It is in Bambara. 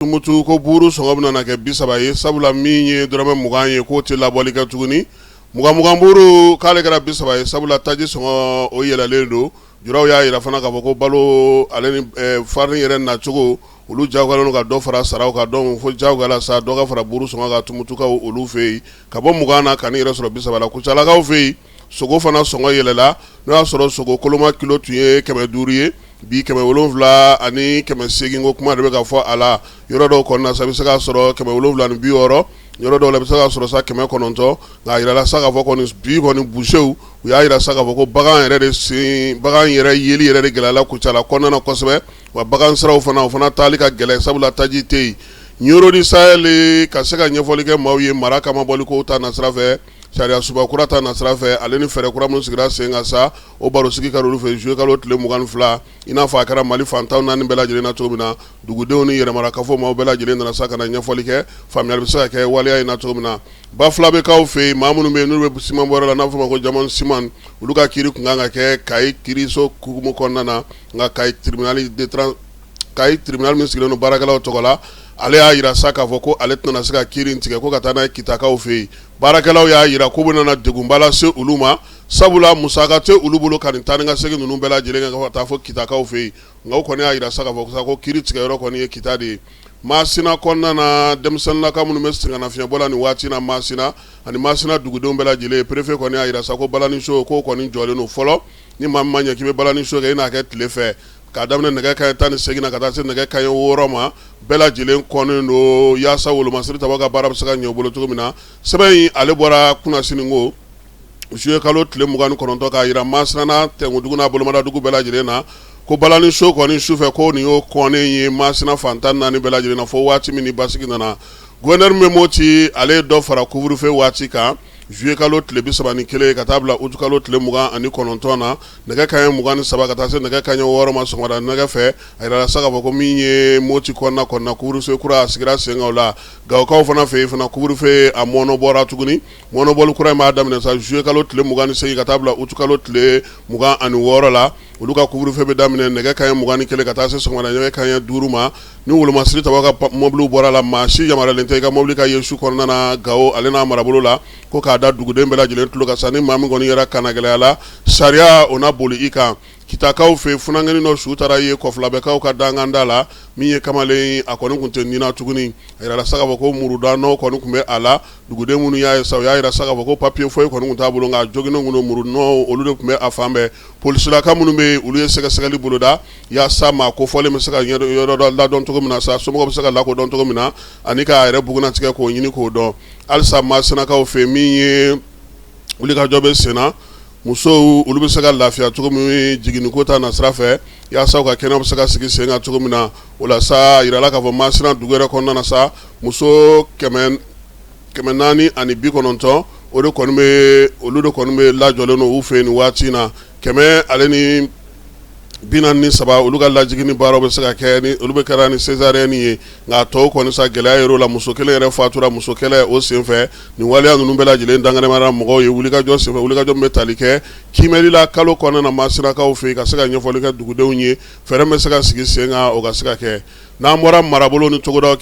Tumutu ko buuru sɔngɔ bɛ na kɛ bi saba ye sabula min ye dɔrɔmɛ mugan ye k'o tɛ labɔli kɛ tuguni mugan buuru k'ale kɛra bi saba ye sabula taji sɔngɔ o yɛlɛlen don julaw y'a jira fana ka fɔ ko balo ale ni farini yɛrɛ nacogo olu jagoyalen don ka dɔ fara saraw kan don fo jagoya la sa dɔ ka fara buuru sɔngɔ kan Tumutukaw olu fɛ yen ka bɔ mugan na ka n'i yɛrɛ sɔrɔ bi saba la Kucalakaw fɛ yen sogo fana sɔngɔ yɛlɛla n'o y'a sɔrɔ sogo koloma kilo tun ye kɛmɛ duuru ye bi kɛmɛ wolonwula ani kɛmɛ segin ko kuma de bɛ ka fɔ a la yɔrɔ dɔw kɔnɔna sa i bɛ se k'a sɔrɔ kɛmɛ wolonwula ni bi wɔɔrɔ yɔrɔ dɔw la bɛ se k'a sɔrɔ sa kɛmɛ kɔnɔntɔn nka a jirala sa ka fɔ kɔni bi kɔni busew u y'a jira sa ka fɔ ko bagan yɛrɛ de sen bagan yɛrɛ yeli yɛrɛ de gɛlɛyala Kucala kɔnɔna na kosɛbɛ wa bagansiraw fana o fana taali ka gɛlɛn sabula taji tɛ yen Nioro du Sahel ka se ka ɲɛfɔli kɛ maaw ye mara cɛmabɔli ko ta nasira fɛ Sariyasunba kura ta nasira fɛ ale ni fɛɛrɛ kura minnu sigira sen kan sa, o barosigi kɛra olu fɛ juillet kalo tile mugan ni fila, i n'a fɔ a kɛra Mali fan tan ni naani bɛɛ lajɛlen na cogo min na, dugudenw ni yɛrɛmarakafo maaw bɛɛ lajɛlen nana sa ka na ɲɛfɔli kɛ, faamuyali bɛ se ka kɛ waleya in na cogo min na. Bafulabekaw fɛ yen, maa minnu bɛ yen n'olu bɛ simanbɔyɔrɔ la n'a bɛ f'o ma ko Diamond ciment, olu ka kiri tun ka kan ka kɛ Kayi kiriso hukumu kɔnɔna na, nka Kayi tribunal de tran Kayi tribunal min sigilen don baarakɛlaw tɔgɔ la, ale y'a jira sa k'a fɔ ko ale tɛna se ka kiri in tigɛ ko ka taa n'a ye Kitakaw fɛ yen, baarakɛlaw y'a jira k'o bɛna na degunba lase olu ma, sabula musaka tɛ olu bolo ka nin taa ni ka segin ninnu bɛɛ lajɛlen kɛ fo ka taa fo Kitakaw fɛ yen, nka u kɔni y'a jira sa k'a fɔ ko kiri tigɛyɔrɔ kɔni ye Kita de ye. Masina kɔnɔna na, denmisɛnlaka minnu bɛ sɛgɛnnafiɲɛbɔ la nin waati in na Masina ani Masina dugudenw bɛɛ lajɛlen, perefe kɔni y'a jira sa ko balani show k'o kɔni jɔlen don fɔlɔ, ni maa min ma ɲɛ k'i bɛ balani show kɛ i n'a kɛ tile fɛ. Ka daminɛ nɛgɛ kanɲɛ 18 na ka taa se nɛgɛ kanɲɛ 6 ma, bɛɛ lajɛlen kɔnnen don yaasa wolomasiri tabagaw ka baara bɛ se ka ɲɛ u bolo cogo min na. Sɛbɛn in ale bɔra kunasininkɔ juillet kalo tile 29 k'a jira Masina tɛnkundugu n'a bolomadaadugu bɛɛ lajɛlen na, ko balani show kɔni sufɛ kɔni o kɔnnen ye Masina fan tan ni naani bɛɛ lajɛlen na fo waati min ni basigi nana. Gouverneur min bɛ Moti ale ye dɔ fara couvre-feu waati kan. juillet kalo tile bi saba ni kelen ka taa bila utukalo tile mugan ani kɔnɔntɔn na nɛgɛ kaɲɛ mugan ni saba ka taa se nɛgɛ kaɲɛ wɔɔrɔ ma sɔgɔmada nɛgɛ fɛ a jirala sa k'a fɔ ko min ye Moti kɔnɔna kɔnɔna couvre-feu kura a sigira sen kan u la Gawokaw fana fɛ yen fana couvre-feu a mɔɔnɔbɔra tuguni mɔɔnɔbɔli kura in b'a daminɛ sa juillet kalo tile mugan ni segin ka taa bila utukalo tile mugan ani wɔɔrɔ la Olu ka couvre-feu bɛ daminɛ nɛgɛ kanɲɛ mugan ni kelen ka taa se sɔgɔmada nɛgɛ kanɲɛ duuru ma ni wolomasiri tabagaw ka mɔbili bɔra a la maa si yamaruyalen tɛ i ka mɔbili ka ye su kɔnɔna na Gawo ale n'a marabolo la ko k'a da duguden bɛɛ lajɛlen tulo kan sa ni maa min kɔni yɛrɛ kannagɛlɛyala sariya o na boli i kan Kitakaw fɛ funankɛnin dɔ su taara ye Kɔfulabɛkaw ka dankanda la min ye kamalen a kɔni tun tɛ ni na tuguni a jirala sa k'a fɔ ko muruda nɔ kɔni tun bɛ a la duguden minnu y'a ye sa u y'a jira sa k'a fɔ ko papiye foyi kɔni tun t'a bolo nka joginnɔ ninnu muru nɔ olu de tun bɛ a fan Polisilaka minnu bɛ olu ye sɛgɛsɛgɛli boloda yasa maa kofɔlen bɛ se ka yɔrɔ ladɔn cogo min na sa somɔgɔ bɛ se ka lakodɔn cogo min na ani k'a yɛrɛ bugunnatigɛ k'o ɲini k'o dɔn halisa Masinakaw fɛ min ye wulikajɔ bɛ senna musow olu bɛ se ka lafiya cogo min jiginniko ta nasira fɛ yasa u ka kɛnɛya bɛ se ka sigi sen kan cogo min na o la sa a jirala k'a fɔ Masina dugu yɛrɛ kɔnɔna na sa muso kɛmɛ kɛmɛ naani ani bi kɔnɔntɔn o de kɔni bɛ olu de kɔni bɛ lajɔlen don u fɛ nin waati in na kɛmɛ ale ni bi naani ni saba olu ka lajiginni baara bɛ se ka kɛ olu bɛɛ kɛra ni sezariyɛni ye nka tɔw kɔni sa gɛlɛya yɔrɔ la muso kelen yɛrɛ fatura musokɛlɛ o senfɛ nin waleya ninnu bɛɛ lajɛlen danɛnɛmana mɔgɔw ye wulikajɔ senfɛ wulikajɔ min bɛ tali kɛ kiimɛli la kalo kɔnɔna na Masinakaw fɛ yen ka se ka ɲɛfɔli kɛ dugudenw ye fɛɛrɛ bɛ se ka sigi sen kan o ka se ka kɛ n'an bɔra marabolo ni togoda